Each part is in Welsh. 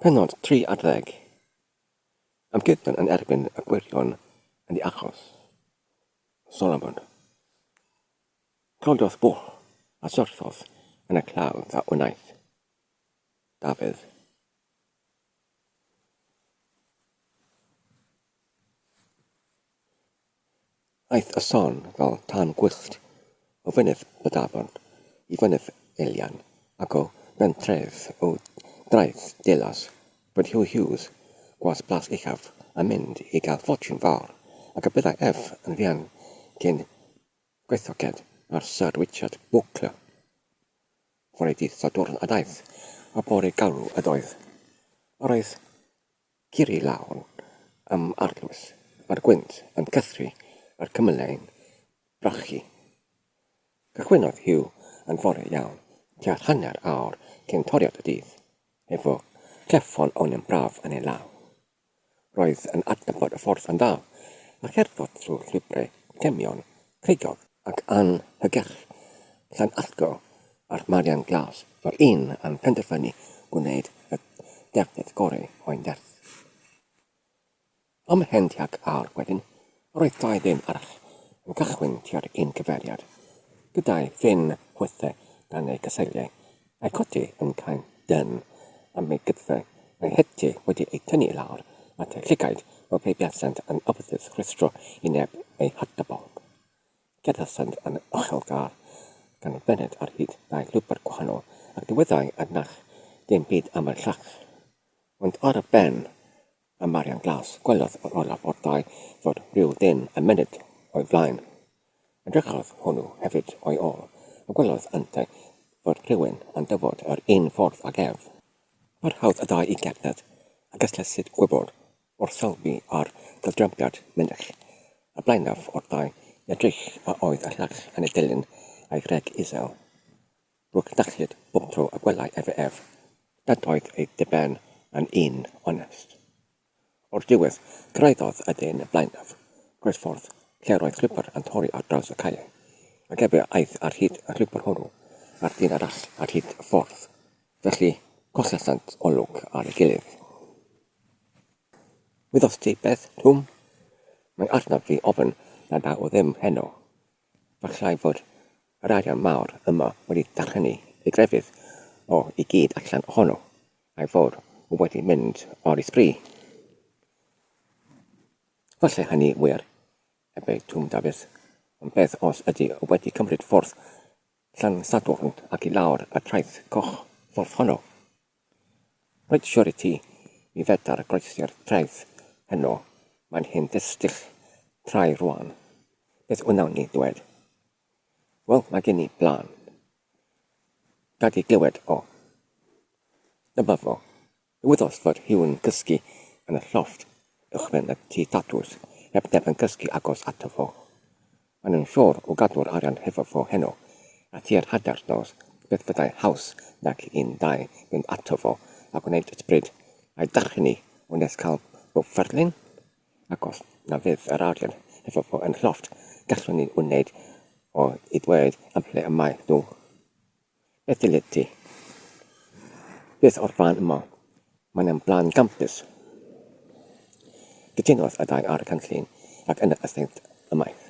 Pennod 30. Amgueddfa yn erbyn y gwirion yn ei achos. Solomon. Cododd bwlch a syrthodd yn y claf a wnaeth. Dafydd. Aeth y son fel tân gwyllt o fynydd Bydafon i fynydd Elian ac o bentref o draeth Delas bod Huw Hughes, gwas Plas Uchaf, yn mynd i gael ffortiwn fawr ac y byddai ef yn fuan cyn gweithoced ar Syr Richard Bowker. Fore dydd Sadwrn a daeth y bore galw ydoedd. Yr oedd Ciri lawn am arlwys. Mae'r gwynt yn cythru a'r cymylau'n brachu. Cychwynnodd Huw yn fore iawn, tua hanner awr cyn toriad y dydd, efo cleffon oen yn braf yn ei law. Roedd yn adnabod y ffordd yn dda, a cherddwyd trwy'r llwybrau cemio'n creigiog ac anhygyrch Llanallgo Ar Marian Glas, Roedd un yn penderfynu gwneud y defnydd gorau o'i nerth. Ymhen tuag awr wedyn, roedd dau ddyn arall yn cychwyn tua'r un cyfeiriad, gyda'i phen chwythu gan ei gyseiliau, a'i chodi yn cael dân am ei gydfer, a'i hety wedi ei thynnu i lawr at ei llygaid fel pe buasent yn ymddiddrwystro i neb eu hatebol. Gyda Sand yn ochelgar, canolbenned ar hyd dau lwybr gwahanol, ac dywedai Adnach ddim byd am y llall. Ond ar y ben y Marian Glas gwelodd yr olaf o'r ddau fod rhyw ddyn yn myned o'i flaen. Edrychodd hwnnw hefyd o'i ôl, a gwelodd yntau fod rhywun yn dyfod yr un ffordd ag ef. Parhaodd y ddau i gerdded, a gystlesyd gwybod Wrth sylwi ar gydrawiad mynych y blaenaf o'r ddau edrych a oedd y llall yn ei dilyn a'i ghreg isel, rwy'n darllyd bob tro y gwelai efe ef nad oedd ei ddiben yn un onest. O'r diwedd, cyrhaeddodd y dyn blaenaf groesffordd lle roedd llwybr yn torri ar draws y caeau, ac efe aeth ar hyd y llwybr hwnnw a'r dyn arall ar hyd y ffordd. Felly, collasant olwg ar ei gilydd. Wyddost ti beth, Twm? Mae arnaf fi ofn nad â o ddim heno. Gallai fod yr arian mawr yma wedi darllennu ei grefydd o i gyd allan ohono, a'i fod o wedi mynd o'r ysbri. Falle hynny wir, ebeu Twm Dafis, ond beth os ydy o wedi cymryd ffordd Llansadwrn ac i lawr y traeth coch ffordd honno? Rwyt siwr i ti, mi fedar groesi'r traeth heno, mae'n hen ddistyll trai rwan. Beth wnawn ni ddwed? Wel, mae gen i blân. Gad i glywed o. Dyma fo. Dyweddos fod Huw'n cysgu yn y llofft uwchben y tŷ tatws, heb neb yn cysgu agos ato fo. Mae'n un ffordd o gadw'r arian hefo fo heno, a thua'r hanner nos, beth fyddai haws nag i un ddau fynd ato fo a gwneud y bryd a'i darchenu o nes cael bob fferlyn? Ac os na fydd yr arian hefo fo yn llofft, gallwn ni wneud o i ddweud am ble y mae nhw. Beth dylid ti? Beth o'r blaen yma? Mae'n am blaen gampus. Cytunodd y ddau ar y cynllun ac yna y thaent ymaith.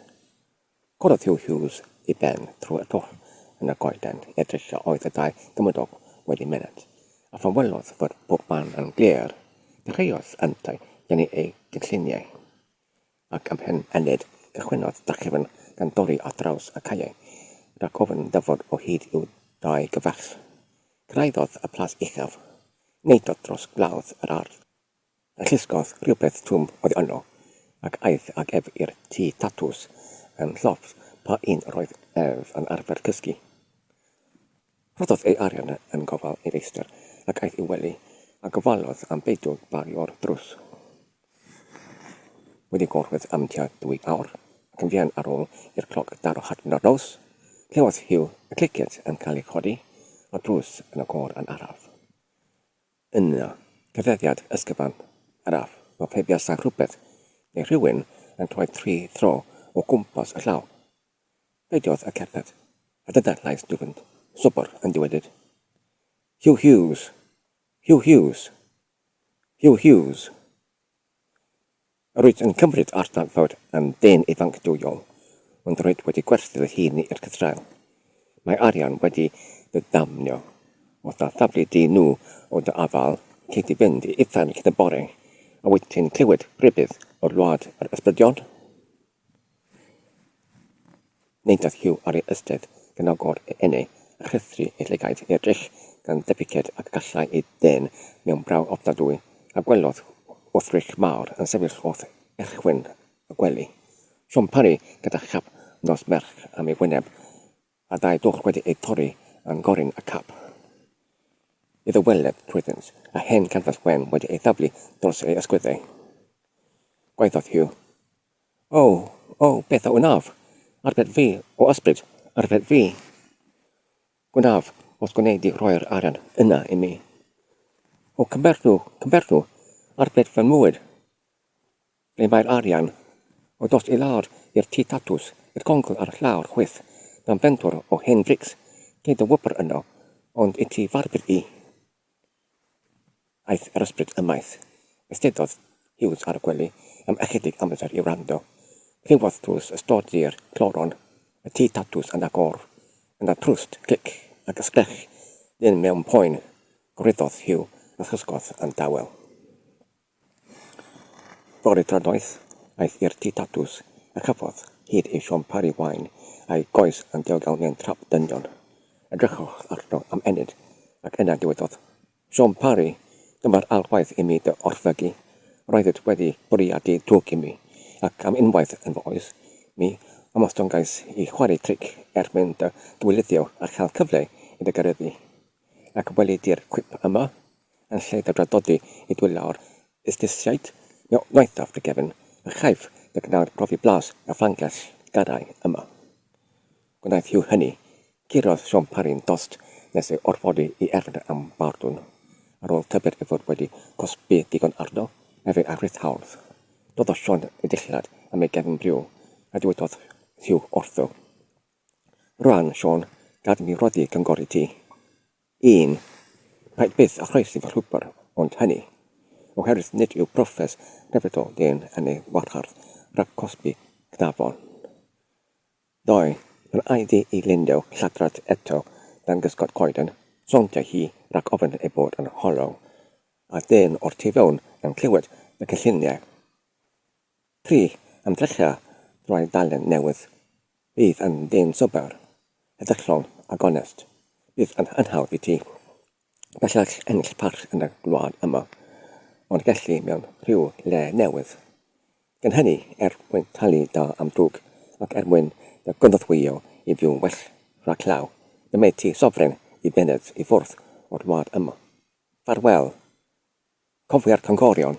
Corodd Hugh Hughes i ben trwy'r twll yn y goeden edrych a oedd y ddau gymydog wedi myned, a phan welodd fod pob man yn glir, dechreuodd yntau dynnu ei gynlluniau. Ac am hyn, Enid, cychwynnodd drachefn gan dorri ar draws y caeau, rhag ofn ddyfod o hyd i'w dau gyfaill. Cyrhaeddodd y plas uchaf, neidiodd dros glawdd yr ardd, a llusgodd rhywbeth twm oddi yno, ac aeth ag ef i'r tŷ tatws yn llofft pa un yr oedd ef yn arfer cysgu. Rhoddodd ei arian yn gofal ei feistr ac aeth i'w wely, a gofalodd am beidio bario'r drws. Wedi gorwedd am tua dwy awr, ac yn fuan ar ôl i'r cloc daro hanner nos, clywodd Hugh y cleciant yn cael eu codi o'r drws yn y côr yn araf. Yna, cyfeiriad ysgyfan araf, fel pe buasai rhywbeth neu rhywun yn cloi tri thro o gwmpas y llaw. Dywedodd y cerdded, a dyda'r llais dwfn, sobor, yn dywedyd, Hugh Hughes! Hugh Hughes! Hugh Hughes! Yr oedd yn cymryd ar dagfawr am ddyn ifanc dwyol, ond yr oedd wedi gwerthu ei hun i'r cythrel. Mae arian wedi dy ddamnio. Os na thaflu di nhw o dy afael, cei di fynd i uffern cyn y bore, a wyt ti'n clywed rhybudd o'r wlad yr ysbrydion? Nid oedd Hugh ar ei ystyr gan agor ei ynni a rhyddhru ei lygaid i'r dull gan debyced ag y gallai ei dân mewn braw ofnadwy, a gwelodd wrthrych mawr yn sefyll wrth erchwyn y gwely. Siom Parry gyda chap nos merch am ei wyneb a dau dwll wedi eu torri yn goryn y cap. Iddo weled trwyddynt, a hen ganfas wen wedi ei thaflu dros ei ysgwyddau. Gwaeddodd Hugh, O, o, beth a wnaf? Arbed fi, o ysbryd, arbed fi! Gwnaf, os gwnei di roi'r arian yna i mi. O, cymberthu, cymberthu, arbed fy mywyd! Ble mae'r arian? O dost i lawr i'r tŷ tatws, i'r congl ar llawr chwith, mewn pentwr o hen frics, lle dy wybr yno, ond i ti farbr i. Aeth yr ysbryd ymaith. Eisteddodd Hughes ar y gwely am ychydig amser i wrando. Clywodd tlws y stod ddur, cloron, y tŷ tatws yn agor. Yna trwst, clic, ac ysgrech dyn mewn poen. Gwryddodd Hugh a chysgodd yn dawel. Bore Tradnoeth, aeth i'r tŷ tatws a chafodd hyd i siom pari wain a'i goes yn ddiogel mewn trap dynion. Edrychodd arno am ennyd ac yna dywedodd, Siom pari, dyma'r ail waith i mi dy orfygu. Roeddit wedi bwriadu twg i mi, ac am unwaith yn fy oes, mi ymostongais i chwarae tric er mwyn dy dwylithio a chael cyfle i dy gareddu. ac weledir cwip yma, yn lle dy draddodi i dwyllo ar fusnesiaid, mi wnaethaf dy gefn a chaiff dy gnawd brofi blas y Ffrangell Gadain yma. Gwnaeth Hugh hynny. Curodd Siôn Parry'n dost nes ei orfodi i erfyn am bardwn. Ar ôl tybed ei fod wedi cosbi digon arno, efe a rith hawdd. Doddodd Siôn i ddillad am ei gefn briw, a dywedodd Hugh wrtho, Rwan, Siôn, gad i mi roddi cyngor i ti. Un, paid byth â chroesi fy llwybr, ond hynny, oherwydd nid yw proffes Capital Gain yn ei wahardd rhag cosbi cnafon. Ddau, pan a'i ddi i Lindo lladrad eto dan gysgod coeden, sowndai hi rhag ofn ei bod yn hollow, a dyn o'r tu fewn yn clywed fy cynlluniau. Pry am ddechra roi dalen newydd fydd yn ddyn sobor, heddychlon a gonest, bydd yn anhawdd i ti bellach ennill parch yn y gwlad yma, ond gelli mewn rhyw le newydd. Gan hynny, er mwyn talu da am drwg, ac er mwyn dy gynorthwyo i fyw'n well rhag llaw, dymaid ti sofren i fyned i ffwrdd o'r wlad yma. Ffarwel! Cofia'r canghorion.